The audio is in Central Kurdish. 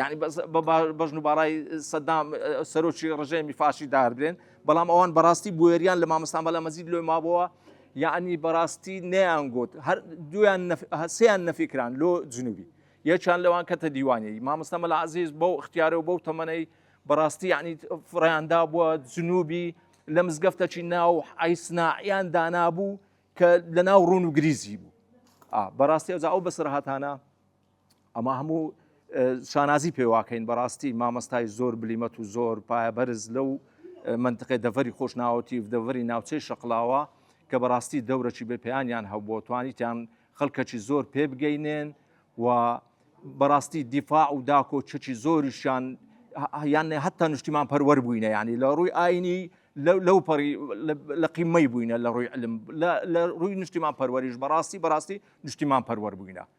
یانی بەس بە بەژن و باڕای سەدام سەرۆکی ڕژێمی فاشی داردرێن بەڵام ئەوان بەڕاستی بوێریان لە مامەسان بەلا مەزید لۆی مابەوە یعنی بەڕاستی نەیان گوت هەر دویان هەسیان نەفیکران لۆ جنوبی یەکیان لەوان کەتە دیوانی مامەستا مەلا عزیز بەو اختیارە و بەو تەمەەی بەڕاستی یعنی فڕیاندا بووە جنوبی لە مزگەفتەکی ناو ئایسناعیان دانابوو کە لە ناو ڕوون و گریزی بوو بەڕاستی ئەوزا ئەو بەسەرهاتانە ئەمە هەموو شانازی پێواکەین بەڕاستی مامەستای زۆر بلیمەت و زۆر پایە بەرز لەو منتقی دەڤری خۆشناوەتی و دەڤری ناوچەی شەقلاوە کە بەڕاستی دەورەی بە پێیانیان هەبووە توانیتیان خەڵکەکی زۆر پێ بگەینێن و بەڕاستی دیفاع و داکۆ چەکی زۆریشیان یان هەتا نیشتیمان پەروەەر بووینە ینی لە ڕووی ئاینی لەو پەڕی لە قیمەی بووینە لە ڕووی علم لە ڕووی نیشتیمان پەروەریش بەڕاستی بەڕاستی نیشتیمان پەروەەر بووینە